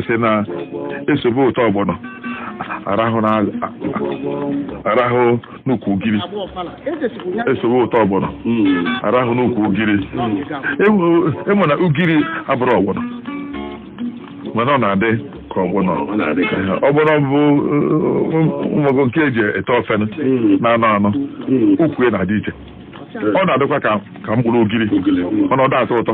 sị na esobe ụtọ ọgbọnọ arahụ na arahụ n'ukwu ugiri esobe ụtọ ọgbọnọ arahụ n'ukwu ugiri ịma na ugiri abụrọ ọgbọnọ mana ọ na-adị ka ọgbọnọ ọgbọnọ bụ ụmụgo nke eji ete ofe na-anọ anọ ukwu ya na-adị iche ọ na-adịkwa ka mkpụrụ ugiri ọ na ọ da atọ ụtọ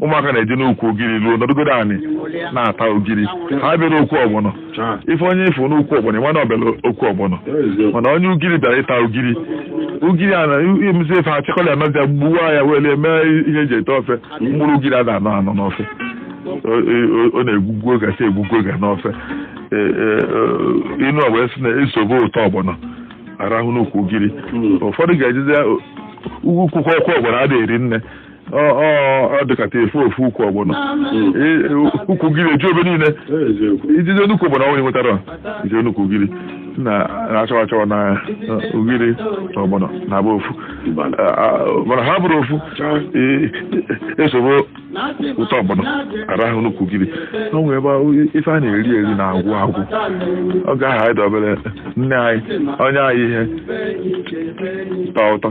ụmụaka na-eje n'ukwu ugiri ruo nọdụgodo anị na-ata ugiri ha bịara okwu ọgbọnọ ị fụ onye ị fụ n'ukwu ọgbọnọ ịma na ọ bịara okwu ọgbọnọ mana onye ugiri bịara ịta ugiri ugiri a na-emezi efe achịkọla anọzi ya gbuwa ya were mee ihe eji ete ofe mkpụrụ ugiri a na-anọ anọ n'ofe O- o- ọ na-egwugwu oge asị egwugwu oge n'ofe E- e- e- inu ọgbọ esi na-esobe ụtọ ọgbọnọ arahụ n'ukwu ugiri ụfọdụ ga-ejizi ugwu kwụkwọ ọkwa ọgbọnọ a na-eri nne Ọ- ọ- ọ dịkata a fụ ofu ukwu ọgbọnọ E- e- ukwu ugiri eju ebe niile ijije n'ukwu ọgbọnọ ọhụrụ nwetara ije n'ukwu ugiri sị na achọwa achọwa na eh, ugiri na ọgbọnọ na-abụ ofu Ah, ah, mana ha abụrọ ofu eh, esobe ụtọ ọgbọnọ arahụ n'ukwu ugiri o nwere ebe ahụ ife a na-eri eri na-agwụ agwụ ọ ga-aha anyị dobere nne anyị onye anyị ihe tọ ụtọ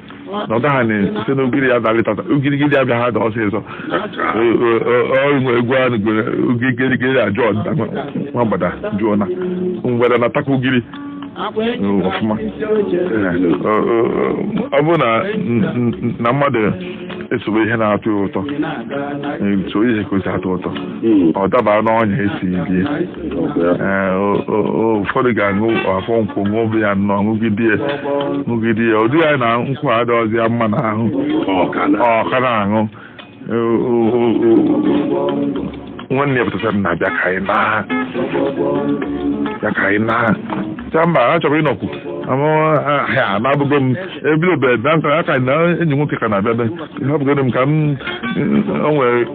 na ọ gaghị site na ugiri ya dalịtata ugirigiri ya bịa ha da ọsịsọ o nwe egwu ahụ gwere ugirigiri a jụọ nwa mgbada jụọ na mgbada na-atakwa ugiri ọfụma ọ bụrụ na mmadụ esobe ihe na-atọ ya ụtọ so ihe ka o si atọ ụtọ ọ daba n'ọnya esi bie Ee, o- o- o- ụfọdụ ga-aṅụ afọ nkwụ ṅụbe ya nnọọ ṅụgide ya ṅụgide ya ụdị ya na nkwụ adịghịzi ya mma n'ahụ ọ ka na-aṅụ O- o- o- o- nwanne pụtara na bịa ka anyị naa bịa ka anyị naa cha mba a chọrọ ịnọkwu ha na-abụgo m ebido be bịa nka ya ka na enyi nwoke ka na-abịa be ihe ọ bụgoro m ka m o nwere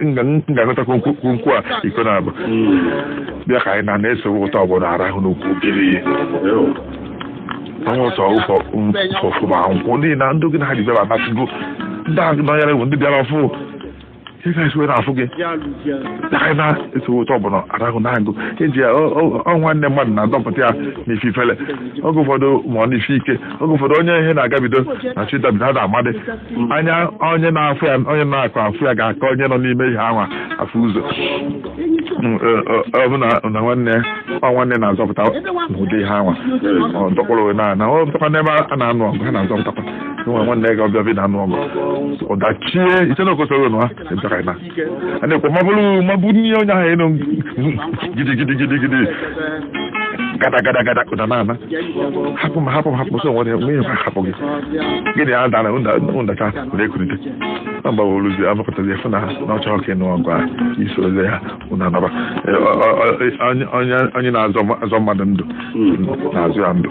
m ga-agọtakwu nkwụ a iko na-abụ bịa ka anyị naa na esowe ụtọ ọgbọnọ arahụ n'ukwu ugiri ihe onye ụtọ ụfọ ụfọfụba nkwụ ndị na ndị oge na ha ji bịara anasịgo ndị a nọnyere bụ ndị bịara ọfụ ihe ka esi were afụ gị aka na esowe ụtọ ọgbọnọ arahụ n'ukwu ugiri ọ- ọ- ọ nwanne mmadụ na-adọpụta ya n'ife ifele oge ụfọdụ ma ọ n'ife ike oge ụfọdụ onye ihe na-agabido na chi dabido ha na-amadị anya onye na-afụ ya onye na-akọ afụ ya ga-aka onye nọ n'ime ihe anwa afụ ụzọ Mm, ọ- ọ- ọ bụ na na nwanne ya ọ nwanne na-azọpụta n'ụdị ihe anwa ọ dọkpọrọ na na ọ dọkwa n'ebe a na-anụ ọgụ ha na-azọpụtakwa nwa nwanne gị ọbịa bịa anụ ọgụ ọdachie iche na okosoro nụ ha ebịara na a na-ekwe mabụrụ mabụ n'ihe onye ahụ ị nụ gidi gidi gidi gidi gada gada gada ụda na ana hapụ m hapụ m hapụ m so nwere nwunye m hapụ gị gịnị a dara ụdacha na-ekulite na mgbawa oluzi amụpụtazi efu na ha na ọchọ ọka ịnụ ọgụ a i sorozi ha unu anaba Eh, ọ- ọ- ọ- onye- onye- onye na-azọ azọ mmadụ ndụ na-azọ ya ndụ